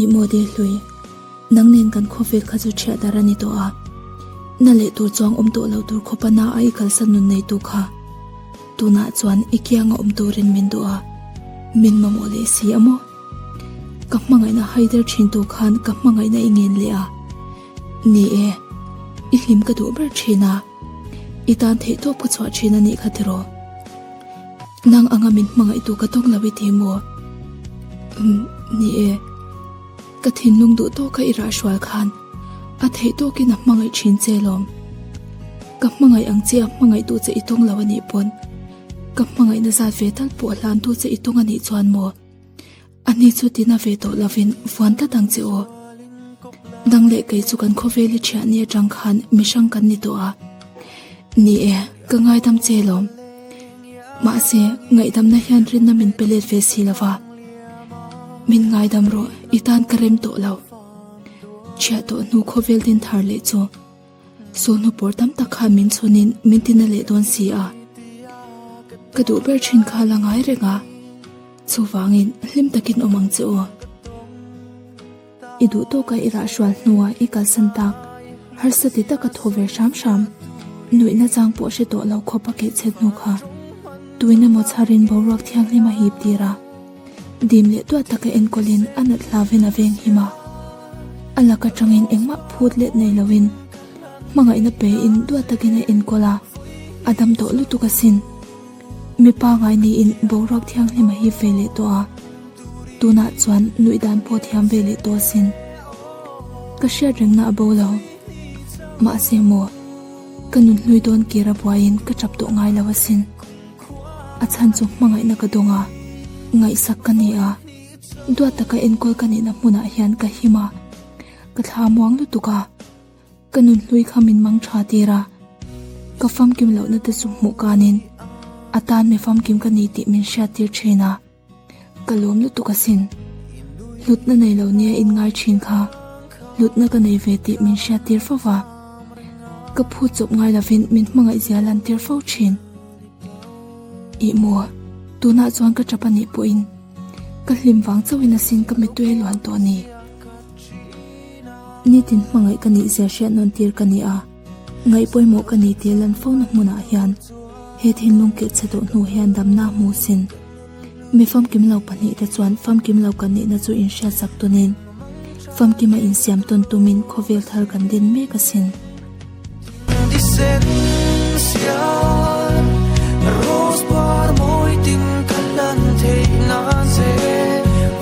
I mawdil hlui, nang nen kan khawvel kha chu thiah dar a ni tawh a, na leh tur chuang awm tawh lo tur khaw pana a i kalsan nun nei tu kha tunah chuan i kianga awm turin min duh a, min mamawh leh si a maw? Ka hmangaihna hai der thin tur khan ka hmangaihna i ngen leh a, ni e, i hlim ka duh ber thin a. I tan theih tawp ka chhuah thin anih ka ti rawh. Nang anga min hmangaih tu ka tawng lo i ti maw? Umm, ni e. Ka thinlung duh tawka i rah hrual khan a theih tawkin a hmangaih thin che lawm. Ka hmangaih ang che a hmangaih tu che i tawng lo anih pawn. Ka hmangaihna zat ve tal pawh a hlan tu che i tawng anih chuan maw? Ani chu tina ve tawh lovin vuan tlat ang che aw. Nang leh kei chu kan khawvel i thiah ni atang khan mihrang kan ni tawh a. Ni e, ka ngaidam che lawm. Mahse, ngaihdamna hian rinna min pe let ve si lova. Min ngaidam rawh, i tan ka rem tawh lo. Thiah tawh hnu khawvel din thar leh chu. Sawhnu pawr tam tak kha min chhunin min ti na leh dawn si a, ka duh ber thin kha a la ngai reng a, chuvangin hlim takin awm ang che aw. I duh tawka i rah hrual hnuah i kalsan tak, harsa ti taka thaw ve hram hram, nuihna chang pawh hre tawh lo khawpa keh chhe hnu kha, tuina mawchharin boruak thianghlim a hip tir a. Dim leh duah taka enkawlin a nat hla vena veng him a, a lak atangin engmah phut let nei loin hmangaihna peiin duah takin a enkawl a, a dam tawh lutuk asin. Mi pangngai niin boruak thianghlim a hip ve leh tawh a, tunah chuan nuih dan pawh thiam ve leh tawh asin. Ka hriat rengna a bo lo, mahse maw ka nunhlui dawn kir a buaiin ka tap tawh ngai lo asin. A chhan chu hmangaihna ka dawng a, ngaihsak ka ni a, duat taka enkawl ka nihna hmunah hian ka him a, ka thla muang lutuk a, ka nunhlui kha min mang tha tir a, ka famkim lohna te chu hmuh kanin a tan mi famkim ka ni tih min hriat tir thin a. Ka lawm lutuk asin. Hlutna nei lo nia in ngai thin kha. Hlutna ka nei ve tih min hriat tir fo va. Ka phut chawp ngai lovin min hmangaih zia lan tir fo thin. I maw, tunah chuan ka tap anih pawhin ka hlim vang chauhin asin ka mi tuei luan tawh ni. Nitin hmangaih ka nih zia hriat nawn tir ka ni a. Ngaih pawimawh ka nih tih lan fona hmunah hian he thinlung kilhchhe duh hnu hian damnak hmu sin mi famkim lo pahnih te chuan famkim lo kan nihna chu inhriatsak tunin famkim a insiam tawn tumin khawvel thar kan din mek a sin.